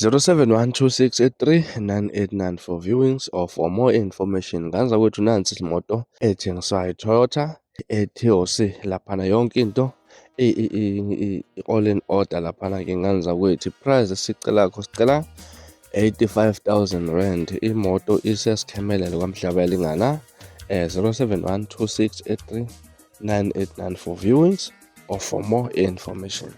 0712639894 for viewings or for more information nganza kwethu nansi imoto ethengiswayo iToyota eTOC laphana yonke into i-all in order laphana ke nganza kwethu price esicela kho sicela 85000 rand imoto isesikhemelele kwamhlaba elingana eh 0712639894 viewings or for more information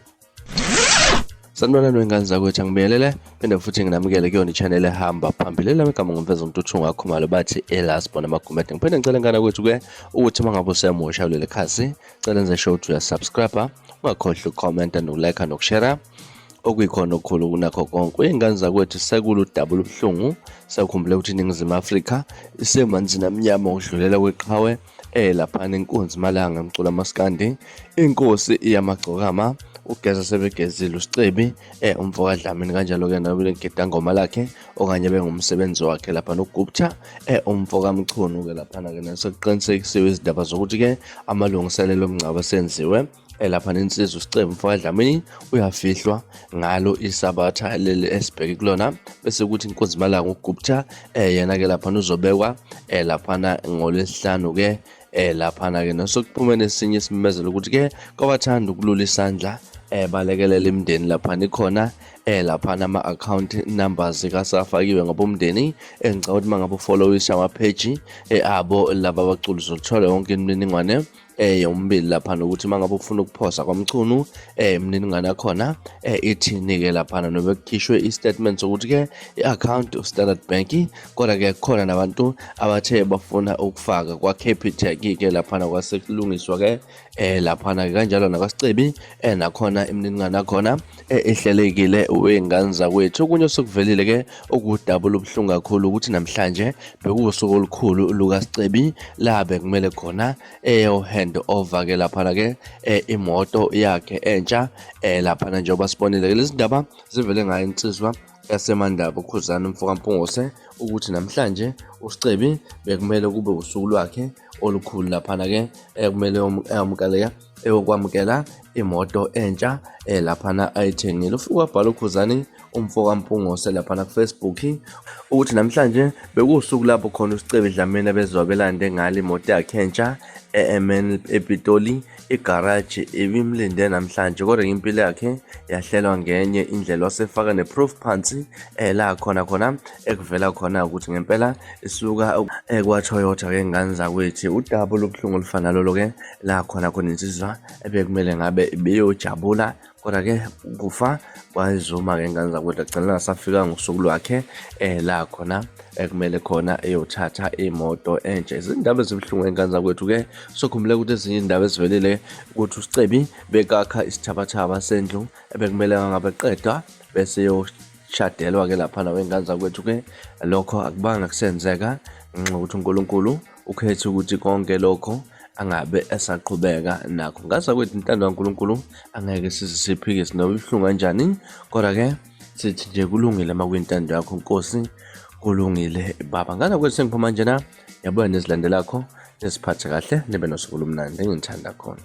Sanibonani wengane zakwethu angibiyelele phinde futhi nginamukele kuyona i-channel ehamba phambili lami igama ngumfeza umtuthu ngakhumalo bathi elasbon amagumede ngiphinde ngicela ngane kwethu-ke ukuthi uma ngabe usemusha kuleli khasi cela nze show ukuthi uyasubscribe ungakhohlwa ukukhomenta nokulike nokushera okuyikhona okukhulu kunakho konke uyingane zakwethu sekulu dabulo ubuhlungu sakhumbule ukuthi iningizimu afrika isemanzini amnyama ukudlulela kweqhawe eh laphana inkunzi malanga emcula maskandi inkosi iyamagcokama ugeza sebegezile usicebi eh umfoka Dlamini kanjalo ke nawe lengida ngoma lakhe okanye bengumsebenzi wakhe lapha nogupta eh umfoka Mchunu ke lapha ke nasokuqinisekisiwe izindaba zokuthi ke amalungiselelo omngcwabo senziwe elapha nensizwa usicebo mfoka dlamini uyafihlwa ngalo isabatha leli esibheke kulona bese kuthi inkunzi malanga ugupta eh yena ke laphana uzobekwa eh laphana ngolesihlanu ke eh laphana ke nosokuphumene esinye isimemezelo ukuthi ke kwabathanda ukulula isandla eh balekelela imindeni laphana ikhona eh laphana ama account numbers kasafakiwe ngabomndeni engicabanga ukuthi mangabe ufollowisha ama page eh abo laba baculi zothola yonke imininingwane eh yombili lapha nokuthi mangabe ufuna ukuphosa kwamchunu eh imniningane yakhona eh ithini ke lapha nobe kukhishwe istatement sokuthi ke iaccount of Standard Bank kodwa ke khona nabantu abathe bafuna ukufaka kwa Capitec ke lapha kwasekulungiswa ke eh lapha kanjalo nakwaSicebi eh nakhona imniningane yakhona ehlelekile wey'ngane zakwethu okunye osekuvelile ke okudabula ubuhlungu kakhulu ukuthi namhlanje bekuwusuku olukhulu lukasicebi la bekumele khona eyo-hand over ke laphana ke eh, imoto yakhe entsha eh, laphana njengoba sibonile ke lezi ndaba zivele ngayo insizwa yasemandaba ukhuzana umfokampungose ukuthi namhlanje usicebi bekumele kube usuku lwakhe olukhulu laphana ke ekumele eyamukaleka eyokwamukela imoto entsha eh, laphana ayithengile ufike wabhala ukhuzani umfo kampungose laphana kufacebook ukuthi namhlanje bekuwusuku lapho khona usicebi dlamini abezwa belande ngale imoto yakhe entsha emn epitoli igaraji ibimlinde namhlanje kodwa impilo yakhe yahlelwa ngenye indlela wasefaka ne-proof phansi eh, la khona khona ekuvela khona ukuthi ngempela isuka eh, kwatoyota ke ngane zakwethu udaba olubuhlungu olufana lolo ke la khona khona insizwa ebekumele ngabe ibiyojabula kodwa ke ukufa kwayizuma ke ngane zakwethu agcina ngasafika ngosuku lwakhe eh la khona ekumele khona eyothatha imoto entsha izindaba ezibuhlungu engane zakwethu ke sokhumbule ukuthi ezinye indaba ezivelile ukuthi usicebi bekakha isithabathaba sendlu ebekumele ngabe qeda bese yoshadelwa ke lapha nawe ngane zakwethu ke lokho akubanga kusenzeka ngenxa yokuthi uNkulunkulu Ukhethe ukuthi konke lokho angabe esaqhubeka nakho ngaza kwethu intando kaNkulunkulu angeke size siphike sinoba ibuhlungu kanjani kodwa-ke sithi nje kulungile uma kuyintando yakho nkosi kulungile baba ngaza kwethu sengiphuma njena yabuya nezilandelakho neziphathe kahle nibe nosuku lomnandi engithanda khona